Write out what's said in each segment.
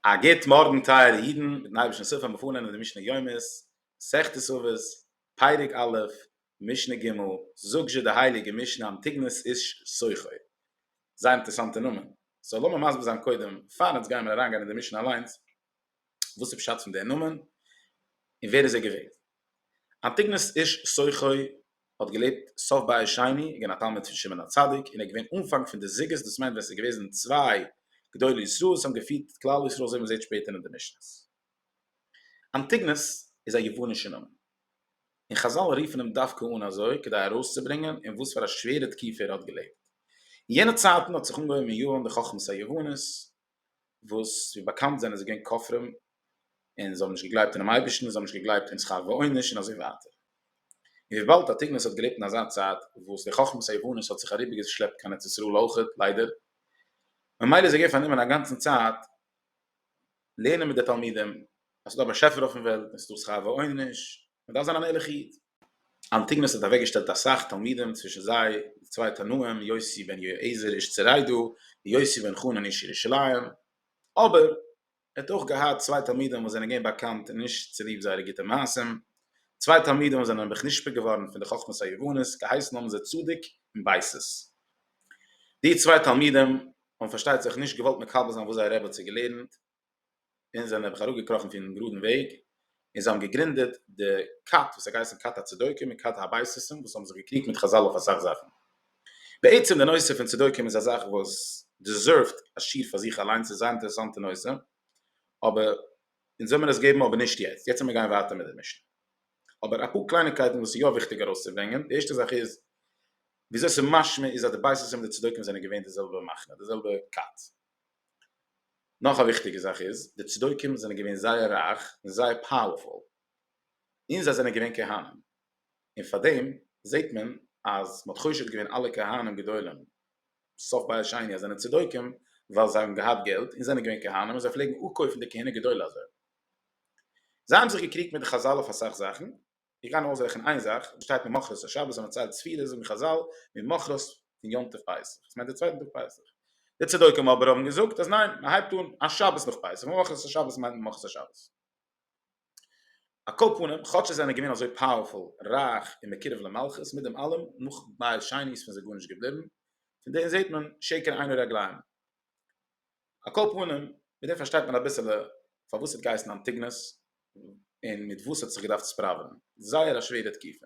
א גוט מארגן טייערע אידן, מיטן אייבערשטנ'ס הילף וועלן מיר פארלערנען די משנה יומית, מסכת עוות, פרק א', משנה ג', זאגט זשע די הייליגע משנה אנטיגנוס איש סוחר. זייער אינטערעסאנטע נאמען. סאו לאמיר מסביר זיין קודם, פארן אונז גיימיר אריינגיין אין די משנה אליינס. וואס איז פשט פון דער נאמען? און ווער איז ער געווען? אנטיגנוס איש סוחי האט געלעבט סוף בית שני, געווען א תלמיד פון שמעון הצדיק, און ער געווען אנפאנג פון די זוגות, דאס מיינט ווען עס איז געוועזן צוויי גדולי ישראל וואס האבן געפירט כלל ישראל אזוי ווי מען זעט שפעטער אין די משנה'ס. אנטיגנוס איז א יוונישע נאמען, און חזל רופן אים דווקא אן אזוי כדי ארויסצוברענגען אין וואס פאר א שווערע תקופה ער האט געלעבט. אין יענע צייטן האט זיך אנגעהויבן אין יוון די חכמת היוונית, וואס ווי באקאנט זענען זיי געווען כופרים און זיי האבן נישט געגלייבט אינעם אייבערשטן, זיי האבן נישט געגלייבט אין שכר ועונש און אזוי ווייטער. און וויבאלד אטיגנוס האט געלעבט אין אזא צייט וואס די חכמת היוונית האט זיך אריבערגעשלעפט קיין ארץ ישראל אויך, ליידער, ממילא איז ער געווען פארנומען א גאנצן צייט לערנען מיט די תלמידים אז ס'איז דא א באשעפער אויפן וועלט און ס'איז דא שכר ועונש, מען דארף זיין אן ערליכע איד. אנטיגנוס האט אוועקגעשטעלט אסאך תלמידים, צווישן זיי די צוויי תנאים, יוסי בן יהועזר איש צריידא, און יוסי בן חנן איש ירושלים. אבער ער האט אויך געהאט צוויי תלמידים וואס זענען געווען באקאנט נישט צוליב זייערע גוטע מעשים, צוויי תלמידים וואס זענען נעבעך נשפע געווארן פון די חכמת היוונית, געהייסן האבן זיי צדוק און בייסס. די צוויי תלמידים האבן פארשטייט זיך נישט געוואלט מקבל זיין וואס זייער רבי האט זיי געלערנט, און זענען נעבעך אראפגעקראכן פונעם גראדן וועג, און זיי האבן געגרינדעט די כת וואס האט געהייסן כת הצדוקים און כת הבייסיסם וואס האבן זיך געקריגט מיט חזל אויף אסאך זאכן. בעצם די נושא פון צדוקים איז א זאך וואס דעזערווט א שיעור פאר זיך אליינס, ס'איז א זייער אינטערעסאנטע נושא, אבער אונז וועל מיר עס געבן אבער נישט יעצט, יעצט וועל מיר גיין ווייטער מיט די משנה. אבער אפאר קלייניקייטן וואס איז יא וויכטיג ארויסצוברענגען, די ערשטע זאך איז וויאזוי ס'איז משמע איז אז די בייסיסם און די צדוקים זענען געווען די זעלבע מחנה, די זעלבע כת. נאך א וויכטיגע זאך איז, די צדוקים זענען געווען זייער רייך און זייער פאוערפול, און זיי זענען געווען כהנים, און פארדעם זעט מען אז מ'האט חושד געווען אלע כהנים גדולים סוף בית שני אז זענען צדוקים, ווייל זיי האבן געהאט געלט און זענען געווען כהנים און זיי פלעגן אפקויפן די כהונה גדולה אזוי. זיי האבן זיך געקריגט מיט די חזל אויף אסאך זאכן, איך גיי נאר אויסרעכענען איין זאך, וואס שטייט ממחרת השבת ווען מען ציילט ספירה זאגן חזל ממחרת פון יום טוב פסח, דאס מיינט די צווייטן טאג פסח, די צדוקים אבער האבן געזאגט אז ניין מען הייבט אן א שבת נאך פסח, ממחרת השבת מיינט ממחרת השבת. על כל פנים, כאטש זיי זענען געווען אזוי פאוערפול, רייך און מקורב למלכות, מיט דעם אלעם, נאך בית שני איז פון זיי גארנישט געבליבן, פון דעם זעט מען שקר עיני רגליים. על כל פנים, מיט דעם פארשטייט מען אביסעלע פארוואס ס'האט געהייסן אנטיגנוס, און מיט וואס ס'האט זיך געדארפט ספראווען. זייער א שווערע תקופה.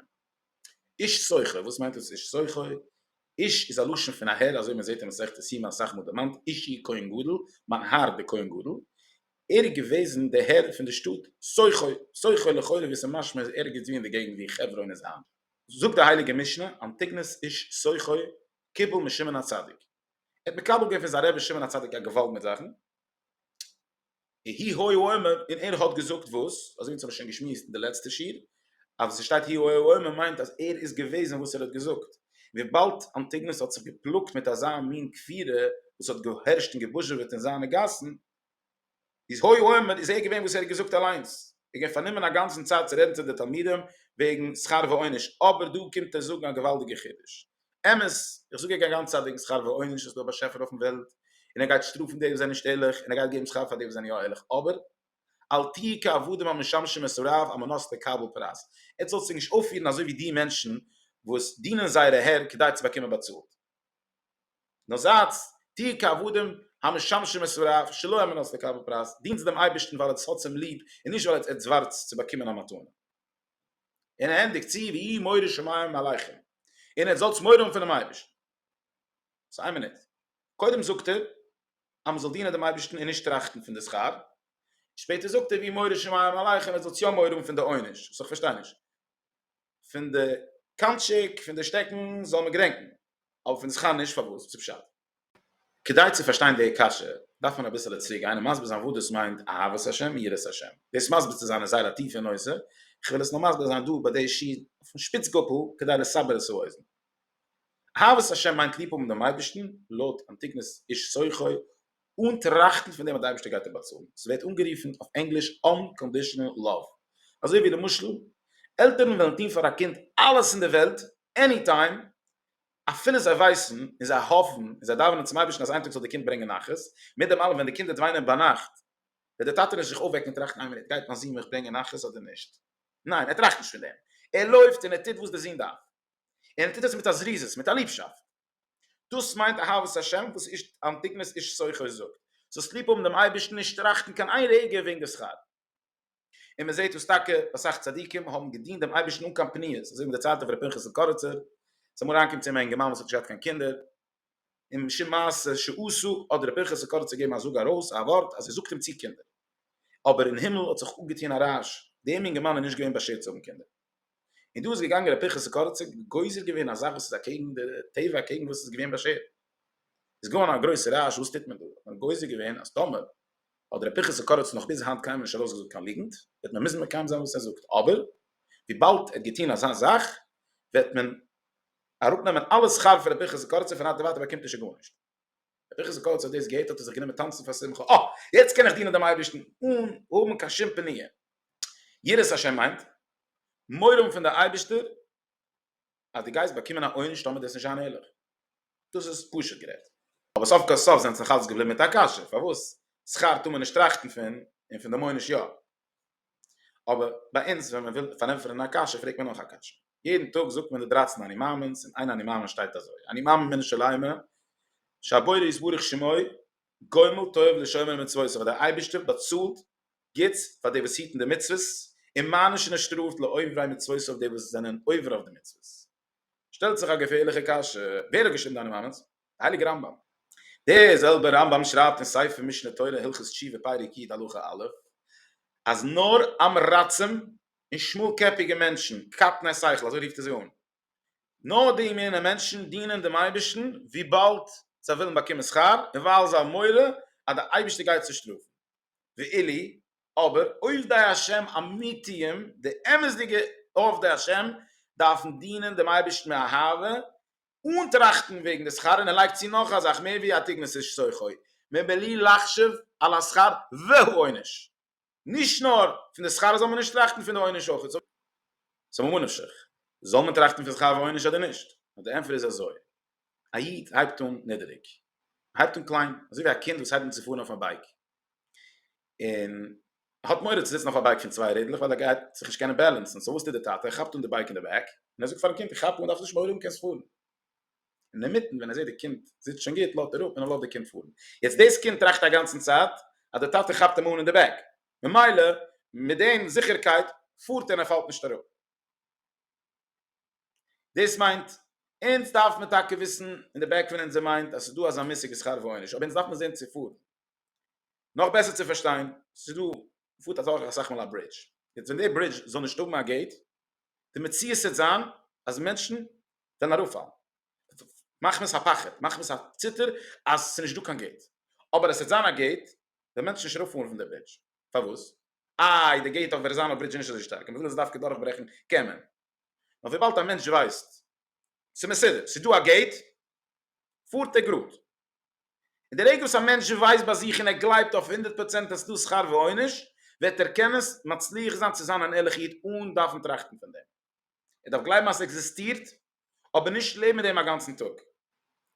איש סוחר, וואס מיינט דאס איש סוחר? איש איז א לשון פון א הער, אזוי מ'זעט אין מסכת יומא אסאך מאל דערמאנט, אישי כהן גדול, מיין הער דער כהן גדול. ער איז געוועזן דער הער פון די שטאט סוחר, סוחר לכאורה ווי ס'משמע איז ערגעץ ווי אין די געגנט ווי חברון איז היינט. זאגט די הייליגע משנה, אנטיגנוס איש סוחר קיבל משמעון הצדיק. ער האט מקבל געווען פון זיין רבי שמעון הצדיק א געוואלד מיט זאכן, הי' הוי ה אומר, און ער האט געזאגט וואס, אזוי ווי אונז האבן שוין געשמועסט אין די לעצטע שיעור, אז עס שטייט הי' הוי ה אומר מיינט אז ער איז געוועזן וואס ער האט געזאגט, וויבאלד אנטיגנוס האט זיך געפלאגט מיט אזא מין כפירה וואס האט געהערשט און געבוזשעוועט אין זיינע גאסן, איז הוי אומר איז ער געווען וואס ער האט געזאגט אליינס, ער איז געווען פארנומען א גאנצן צייט צו רעדן צו די תלמידים וועגן שכר ועונש, אבער דא קומט ער זאגן א געוואלדיגע חידוש, אמת איך זאג ער גייט גאנצע צייט וועגן שכר ועונש איז דא א באשעפער אויפן וועלט און ער גייט שטראפן די וואס זענען נישט ערליך און ער גייט געבן שכר פאר די וואס זענען יא ערליך אבער אל תהי' כעבדים המשמשים את הרב על מנת לקבל פרס, עטס זאלסט זיך נישט אויפפירן אזוי ווי די מענטשן וואס דינען זייערע הער כדי צו באקומען באצאלט. נאר זייטס טוה כעבדים המשמשים את הוריו שלא על מנת לקבל פרס, דינטס דעם אייבערשטן ווייל עטס האטס אים ליב און נישט ווייל עטס ווארטס צו באקומען א מתנה. און ער ענדיגט צו ויהי מורא שמים מעליכם, און עטס זאלטס מורא האבן פונעם אייבערשטן. סאו איין מינוט, קודם זאגט ער אז מען זאל דינען דעם אייבערשטן און נישט טראכטן פון די שכר, און שפעטער זאגט ער ויהי מורא שמים מעליכם עטס זאלטס יא מורא האבן פון די עונש, סאו כ'פארשטיי נישט. פון די קאנטשיק פון די שטעקן זאל מען געדענקן, אבער פון די זכר נישט, פארוואס? וואס איז פשט? כדי צו פארשטיין די קשיא דארף מען אביסעלע צוריק גיין און מסביר זיין וואס דאס מיינט אהבת השם און יראת השם, דאס מסביר צו זיין איז זייער א טיפע נושא, איך וויל עס נאר מסביר זיין דא ביי די שיעור אויפן שפיץ גאפל כדי לסבר את האוזן. אהבת השם מיינט ליב האבן דעם אייבערשטן, לויט אנטיקנעס איש סוחר אן טראכטן פון דעם אז די אייבערשטער גייט אים באצאלן, עס ווערט אנגערופן אויף ענגליש אנקאנדישאנעל לאוו, אזוי ווי למשל עלטערן וועלן טון פאר א קינד אלעס אין די וועלט עני טיים אפילו זיי ווייסן און זיי האפן און זיי דאווענען צום אייבערשטן אז איין טאג זאל די קינד ברענגען נחת, מיט דעם אלעם ווען די קינד וועט וויינען ביינאכט וועט די טאטע נישט זיך אויפוועקן און טראכטן איין מינוט גייט מיין זון מיך ברענגען נחת אדער נישט? ניין ער טראכט נישט פון דעם, ער לויפט און ער טוט וואס די זון דארף, און ער טוט עס מיט א זריזות, מיט א ליבשאפט, דאס מיינט אהבת השם וואס איש אנטיקנס איש סוחר זאגט, זאלסט ליב האבן דעם אייבערשטן נישט טראכטן קיין איין רגע וועגן די שכר. און מען זעט וואס טאקע אסאך צדיקים האבן געדינט דעם אייבערשטן אן קיין פניות, אזוי ווי מען דערציילט אויף ר' פנחס'ל קאריצער, ס'איז אמאל אריינגעקומען צו אים א אינגערמאן וואס האט נישט געהאט קיין קינדער, און משום מעשה שעשו האט ר' פנחס'ל קאריצער געגעבן א זאג ארויס א ווארט אז ער זאגט אים צו קינדער, אבער אין הימל האט זיך אפגעטון א רעש, דעם אינגערמאן איז נישט געווען באשערט צו האבן קינדער. און דא איז געגאנגען ר' פנחס ס'קורצער גוזר געווען א זאך וואס איז אקעגן די טבע אקעגן וואס איז געווען באשערט איז געווארן א גרויסע רעש וואס טוט מען דא האט מען גוזר געווען אז טאמער האט ר' פנחס ס'קורצער נאך ביז היינט קיינמאל נישט ארויסגעזאגט קיין ליגנט וועט מען מוזן מקיים זיין וואס ער זאגט אבער וויבאלד ער האט געטון אזא זאך וועט מען אראפנעמען אלע שכר פון ר' פנחס ס'קורצער פון היינט און ווייטער באקומט ער שוין גארנישט. בתוך איז קורץ האט דאס געהערט האט ער זיך גענומען טאנצן פאר שמחה, אה! יעצט קען איך דינען דעם אייבערשטן אן האבן קיין שום פניה. יראת השם מיינט, מורא האבן פון דער אייבערשטער אז דו גייסט באקומען א עונש טאמער טוסט נישט זיינע הילוך. דאס איז פשוט גערעדט. אבער סוף כל סוף זענטס נאכאלץ געבליבן מיט א קשיא, פארוואס שכר טאר מען נישט טראכטן פון, און פון דערמאנען נישט יא? אבער ביי אונז ווען מען וויל פארענטפערן א קשיא פרעגט מען נאך א קשיא, יעדן טאג זאגט מען די דרייצן אני מאמין'ס און איין אני מאמין שטייט אזוי, אני מאמין מן השלימה שהבורא יתברך שמו גומל טוב לשומר מצוותיו אז דער אייבערשטער באצאלט גוטס פאר די וואס היטן די מצוות און מענישט און ער שטראפט לאויבריי מצוותיו די וואס זענען עובר אויף די מצוות. שטעלט זיך א געפערליכע קשיא, ווער האט געשריבן דיינע מאמענטס? די הייליגע רמב ם? דער זעלבער רמב ם שרייבט אין ספר משנה תורה הלכות תשובה פרק יט הלכה א' אז נאר עם רצים און שמאל קעפיגע מענטשן, קטני שכל אזוי רופט ער זיי אן, נאר די מינע מענטשן דינען דעם אייבערשטן וויבאלד זיי ווילן באקומען שכר און ווייל זיי האבן מורא אז דער אייבערשטער גייט זיי שטראפן, ואילי אבער עובדי השם אמיתיים, די אמת'דיגע עובדי השם, דארפן דינען דעם אייבערשטן מאהבה, אן טראכטן וועגן די שכר, און ער לייגט צו נאך א זאך, מער ווי א תגמול איז שכרו, מבלי לחשוב על השכר והעונש. נישט נאר פון די שכר זאל מען נישט טראכטן, פון די עונש אויך. סא ממה נפשך, זאל מען טראכטן פון שכר ועונש אדער נישט? נאר די ענטפער איז אזוי, א איד הייבט אן נידעריג, ער הייבט אן קליין, אזוי ווי א קינד וואס הייבט אן צו פארן אויף א בייק, און האט מורא צו זיצן אויף א בייק פון צוויי רעדלעך ווייל ער גייט זיך נישט קענען בעלענסן, סאו וואס טוט די טאטע? ער כאפט אן די בייק אין די בעק און ער זאגט פארן קינד איך כאפ אן דארפסט נישט מורא האבן קענסט פארן, אינמיטן ווען ער זעט די קינד זיצט שוין גוט לאזט ער אפ און ער לאזט די קינד פארן, יעצט דאס קינד טראכט א גאנצן צייט אז די טאטע כאפט אים אן אין די בעק ממילא מיט דעם זיכערקייט פארט און ער פאלט נישט אראפ. דאס מיינט אונז דארף מען טאקע וויסן אין די בעק פון אונזער מיינד אז ס'איז דא אזא מושג ווי שכר ועונש אבער אונז דארף מען זען צו פארן נאך בעסער צו פארשטיין, ס'איז דא, מ'פארט אדורך אסאך מאל א ברידזש, יעצט ווען די ברידזש זאל נישט האבן א געיט, די מציאות העט זיין אז מענטשן וועלן אראפפאלן, מחמת הפחד, מחמת הציטער אז ס'איז נישט דא קיין געיט, אבער עס העט זיין א געיט, וועלן מענטשן נישט אראפפאלן פון די ברידזש, פארוואס? איי, די געיט אויף ווערזאנא ברידזש איז נישט אזוי שטארק, און מ'וויל עס דווקא דורכברעכן, קען מען. נאר וויבאלד א מענטש ווייסט, ס'מסודר, ס'איז דא א געיט, פארט ער גראד, און די רגע וואס א מענטש ווייסט ביי זיך און ער גלייבט אויף הונדערט פראצענט אז ס'דא שכר ועונש, וועט ער קענען מצליח זיין צו זיין אן ערליכע איד אן דארפן טראכטן פון דעם. ער דארף גלייבן אז ס'עקזיסטירט, אבער נישט לעבן מיט דעם א גאנצן טאג.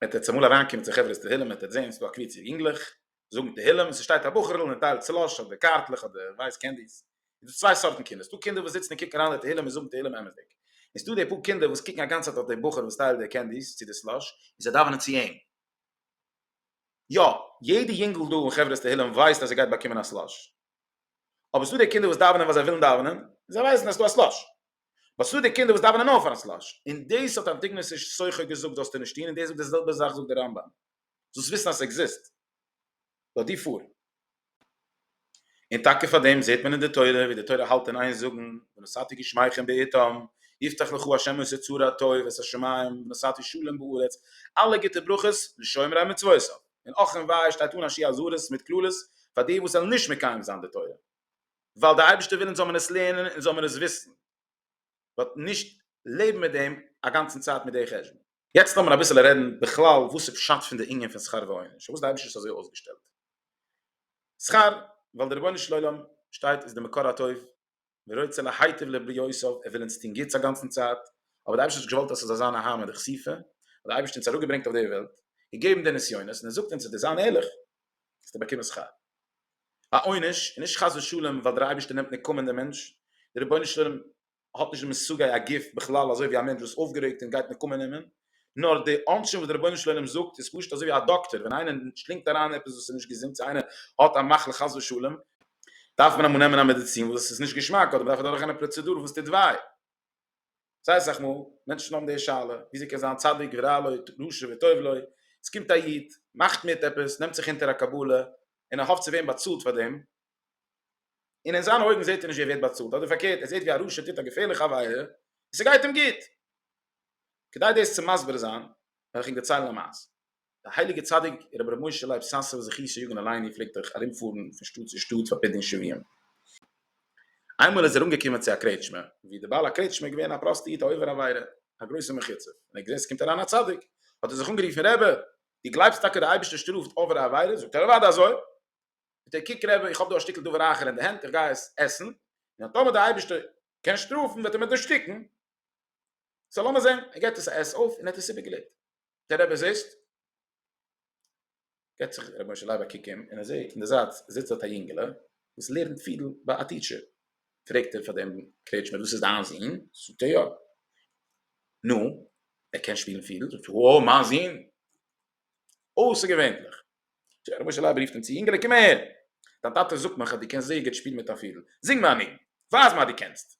וועט ער צומאל אריינקומען צו חברת תהילים וועט ער זען ס'דא א קבוצה יונגלעך זאגן תהילים און ס'שטייט א בחור'ל און ער טיילט סלאש אדער קארטלעך אדער ווייס קענדיס איז דא צוויי סארטן קינדער, ס'דא קינדער וואס זיצן און קוקן אריין אין די תהלים און זאגן תהלים אמת'דיג, און ס'דא די פאר קינדער וואס קוקן א גאנצע צייט אויף די בחור וואס טיילט די קענדיס צו די סלאש, און זיי דאווענען צו אים. יא, יעדע יונגל דא אין חברת תהלים ווייסט אז ער גייט באקומען א סלאש. אבער ס'דא די קינדער וואס דאווענען ווייל זיי ווילן דאווענען, און זיי ווייסן אז ס'דא א סלאש. באט ס'דא די קינדער וואס דאווענען נאר פאר'ן סלאש. און דאס האט אנטיגנוס איש סוחר געזאגט זאלסטו נישט טון, און דאס זאגט די זעלבע זאך זאגט די רמב ם. זאלסט וויסן אז ס'עקזיסט. לאז דיר פאר. און טאקע פאר דעם זעט מען אין די תורה ווי די תורה האלט אין איין זאגן ונשאתי גשמיכם בעיתם, יפתח לך ה' את אוצר הטוב ואת השמים, ונשאתי שלום בארץ, אלע גוטע ברכות לשומרי מצוותיו. און אך און וויי שטייט אן השי אזהרות מיט קללות פאר די וואס וועלן נישט מקיים זיין די תורה. ווייל די אייבערשטער וויל אונז זאל מען עס לערנען און זאל מען עס וויסן. באט נישט לעבן מיט דעם א גאנצן צייט מיט די חשבון. יעצט לאמיר אביסעלע רעדן בכלל וואס איז פשט פון די ענין פון שכר ועונש, פארוואס די אייבישטער איז אזוי אויסגעשטעלט שכר, ווייל די רבונו של עולם שטייט איז די מקור הטוב ורוצה להיטיב לבריותיו ער וויל אונז טון גוטס א גאנצן צייט, אבער די אייבישטער האט געוואלט אז ס'זאל זיין א המה דכסיפא, האט די אייבישטער אונז אראפגעברענגט אויף די וועלט, געגעבן די נסיונות און ער זאגט אונז אז די זיין ערליך וועסטו באקומען שכר. א עונש, און נישט חס ושלום ווייל דער אייבערשטער נעמט נקמה אין דעם מענטש, דער רבונו של עולם האט נישט די מושגי הגוף בכלל אזוי ווי א מענטש וואס איז אויפגערעגט און גייט נקמה נעמען, נאר די עונשים וואס דער רבונו של עולם זאגט איז פשוט אזוי ווי א דאקטער ווען איינער שלינגט אריין עפעס וואס איז נישט געזונט צו איינער האט א מחלה חס ושלום דארף מען אמאל נעמען א מעדיצין וואס איז נישט געשמאק אדער מען דארף אדורך גיין א פראצעדור וואס טוט וויי. זייער סאך מאל מענטשן האבן די שאלה וויאזוי קען זיין צדיק ורע לו רשע וטוב לו, עס קומט א איד מאכט מיט עפעס נעמט זיך אונטער א קבלה און ער האפט צו ווערן באצאלט פאר דעם, און אין זיינע אויגן זעט ער נישט ווי ער ווערט באצאלט אדער פארקערט ער זעט ווי א רשע טוט א געפערליכע עבירה און ס'גייט אים גוט, כדי דאס צו מסביר זיין וועל איך ענק דערציילן א מעשה. דער הייליגער צדיק רבי ר' משה לייב סאסוב זכי' שיגון אלייני פלעגט אויך ארומפארן פון שטאט צו שטאט פאר פדיון שבויים. איינמאל איז ער אנגעקומען צו א קרעטשמע, ווי דער בעל הקרעטשמע איז געווען א פראסטע איד א עובר עבירה, א גרויסער מחוצף, און ער האט געזען ס'קומט אריין א צדיק, האט ער זיך אנגערופן, רבי, דו גלייבסט טאקע דער אייבערשטער שטראפט עוברי עבירה? זאגט ער, אוודאי אזוי! זאגט ער, קוק רבי, איך האב דא א שטיקל דבר אחר אין די הענט, איך גיי עס עסן, און טאמער דער אייבערשטער קען שטראפן וועט ער מיר דערשטיקן, סא לאמיר זען, ער געבט עס א עס אויף און ער האט עס איבערגעלעבט. דער רבי זיצט, געט זיך רבי משה לייב א קוק אום, און ער זעט אין די זייט זיצט דארט א יונגעלע וואס לערנט פידל ביי א טיטשער, פרעגט ער פאר דעם קרעטשמער דאס איז דיין זון? זאגט ער יא. נו, ער קען שפילן פידל? זאגט ער וואו, מיין זון? אויסערגעווענליך. זאגט רבי משה לייב רופט אים צו, יונגעלע קום אהער, דיין טאטע זאגט מיך אז דו קענסט זייער גוט שפילן מיט א פידל, זינג מיר א ניגון, ווייז מיר אז דו קענסט.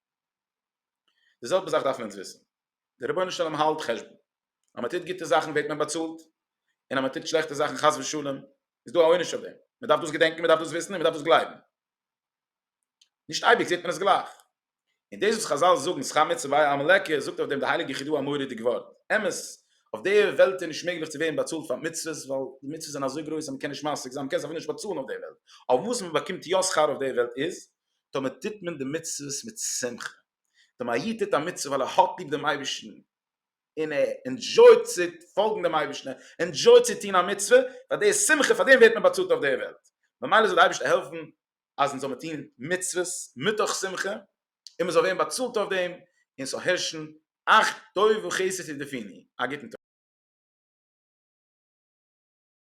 די זעלבע זאך דארפן אונז וויסן, דער רבונו של עולם האלט חשבון, אז מען טוט גוטע זאכן ווערט מען באצאלט, און אז מען טוט שלעכטע זאכן חס ושלום איז דא א עונש אויף דעם, מען דארף דאס געדענקן, מען דארף דאס וויסן און מען דארף דאס גלייבן, נישט אייביג זעט מען עס גלייך. און דאס וואס חז ל זאגן שכר מצוה ביי א עמלק, זאגט אויף דעם די הייליגע חידו א מורא'דיג ווארט, אמת, אויף די וועלט איז נישט מעגליך צו ווערן באצאלט פאר מצוות, ווייל די מצוות זענען אזוי גרויס אז מען קען נישט משיג זיין, מען קען זיך אפילו נישט באצאלן אויף די וועלט, אבער וואס מען באקומט יא שכר אויף די וועלט איז, טאמער טוט מען די מצוות מיט שמחה, טאמער א איד טוט א מצוה ווייל ער האט ליב דעם אייבערשטן, און ער ענדזשויט צו פאלגן דעם אייבערשטן, ער ענדזשויט צו טון א מצוה, פאר די איז שמחה, פאר דעם ווערט מען באצאלט אויף דער וועלט, ממילא זאל דער אייבערשטער העלפן אז אונז זאל מען טון מצוות מתוך שמחה, און מען זאל ווערן באצאלט אויף דעם, און עס זאל הערשן אך טוב וחסד תרדפיני, א גוטן טאג.